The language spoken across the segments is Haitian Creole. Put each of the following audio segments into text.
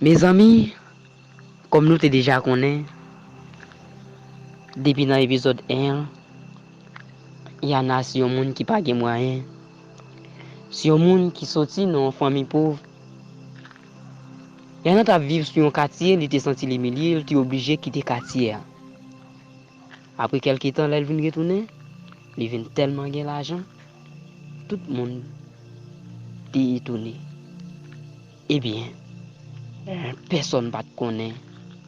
Mezanmi kòm nou te deja konnen depi nan epizòd 1 an Yana se yon moun ki pa gen mwayen se yon moun ki sòti nan yon fanmi pov Lè nan t ap viv sou yon katye, li te santi l imilye, l te oblije kite katye a. Apre kèlke tan lè l vin retounen, li vin tèlman gen lajan, tout moun te etone. Ebyen, pèsonn pa t konnen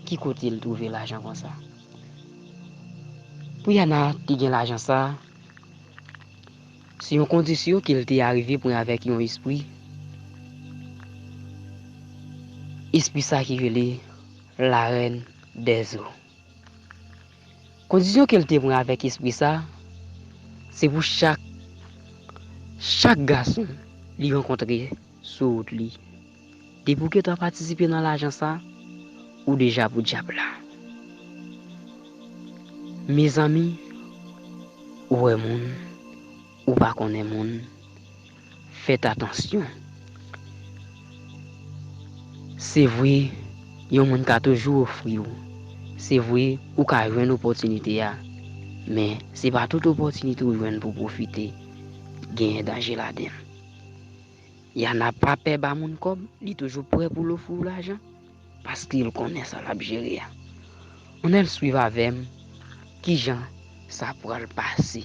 ki kote l twouve lajan konsa. Pou Yana te gen lajan sa a, Se yon kondisyon ke l te arive pran avèk yon espri, espri sa ki rele La Reine des Eaux. Kondisyon ke l te pran avèk espri sa, se pou chak, chak gason li rankontre sou wout li, Depi w gentan patisipe nan lajan sa, ou deja pou dyab la. Mezanmi, ou wè moun, ou pa konnen moun, fèt atansyon. Se vre, yon moun ka toujou ofri w, se vre ou ka jwenn opòtinite a, men se pa tout opòtinite ou jwenn pou w pwofite, genyen danje ladan l. Yana pa pè ba moun kòb, li toujou prè pou l ofri w lajan, paske l konnen sa l ap jere a. Anel swiv avè m ki jan sa pral pase.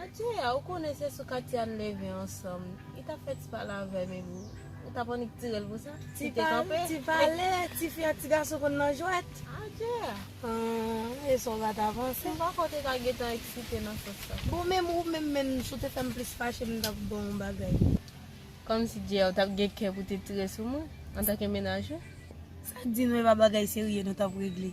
Andjea ou konnen se sou Katiane leve ansanm li tap fè ti pale avèm epi ou tap annik tirel pou sa li te kanpe. Ti pale ti fi ak ti gason konn nan jwèt. Andjea. Ahh e sa w pa ta panse. M panko te ka gentan eksite nan sans sa. Bon menm ou menm menm si w te fè m plis fache m tap ba w yon bagay. Kòmsi Djea ou tap gen kè pou te tire sou mwen antanke menaj ou. Sa k di nou e pa bagay serye nou tap regle.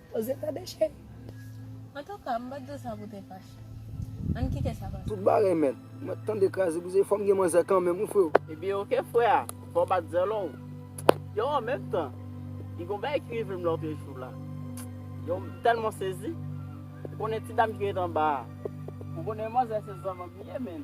Poze tande cheri. Antouka m pat di sa pou te fache. Ann kite sa pase. Tout bagay mèt. Mwen tande kraze brize fòm gen manzè kanmenm wi freo. Ebyen ok frè a, fòw bat zèlòw. Yow an menm tan, gen yon bagay ki rive m lòtre jou la. Yow m tèlman sezi. Ou konnen ti dam ki ret anba a. Ou konnen manzè se zanmanm li ye menn.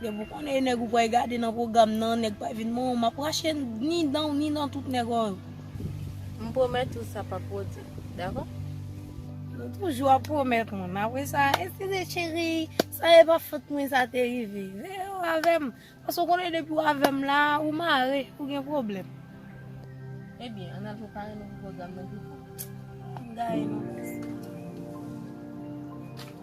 Depi ou konnen e nèg ou pwal gade nan pwogram nan nèg pa vin bon map rache ni dan ou ni dan tout nèg ou yo. M pwomèt ou sa pap pwodi dakò. Ou toujou ap pwomèt moun apre sa eskize cheri sa e pa fot mwen sa te rive veye ou avèm paske ou konnen depi ou avèm la ou mare ou gen pwoblèm. Ebyen an al prepare nou pou pwogram nan pipo. M gaye nou.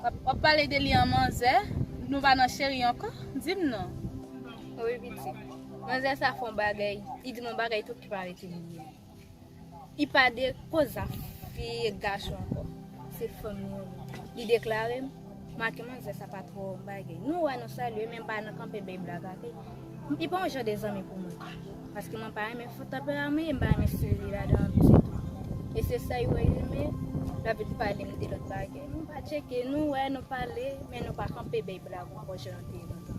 Wap pale de li an manzè, nou pa nan cheri ankò, dim non. Wi pitit. Manzè sa fon bagay, li dim on bagay tou ki pa rete li menm. Li pa de koz a fi e gason ankò, se fanm li an menm. Li deklarem, make manzè sa pa tro on bagay. Nou wè nou salye men pa nan kanpe bay blag ak li. Mpi pa yon jan de zanmi pou mwen. Paske mwen pa renmen fout tanperaman e mpa renmen stil li la dan ditou. E se sa yo wè yo men lap vin palem de lòt bagay. Nou pa tcheke, nou wè, nou pale, men nou pa kanpe bay blag ankò jan nou te ye lontan.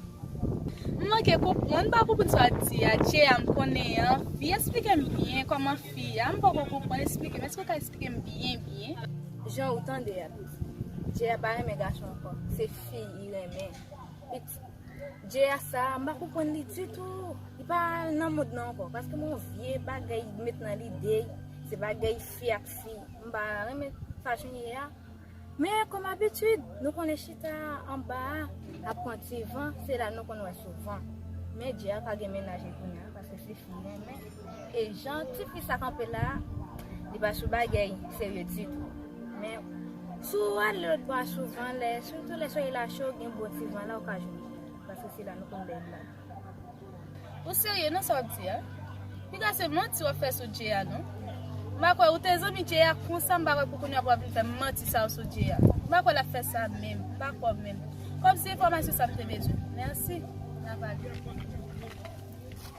M manke konprann, m pa konprann sa wap di a, Che a m konnen an fi, esplike m byen kòman fi a, m poko konprann esplike m, èske ou ka esplike m byen byen? Jan ou tande a, Che a pa renmen gason ankò, se fi li renmen. Djea sa m pa konprann li ditou Li pa nan mòd nan ankò Paske m wè yon vye bagay li met nan lide l Se bagay fi ak fi M pa renmen fason l ye a Men kòm abitid Nou konnen chita anba a ap pran ti van Se la nou konn wè souvan Men Djea pa gen mennaj li kounya Paske se fi l renmen E jan ti fi sa kanpe la li pa sou bagay serye ditou men si w ale lòt bò a sou van lè sitou lè solèy la cho gen bon ti van la ou ka jwenn li paske se la nou konn beny la. Ou serye nan sa wap di a? Piga se manti wap fè sou Djey a non. M pa kwè ou te zanmi Djey a konsa m pa kwè pou kounya pou wap vin fè manti sa yo sou Djey a. M pa kwè lap fè sa menm. M pa kwè w menm. Kòm se enfòmasyon sa m te bezwen. Mèsi. N ap ale.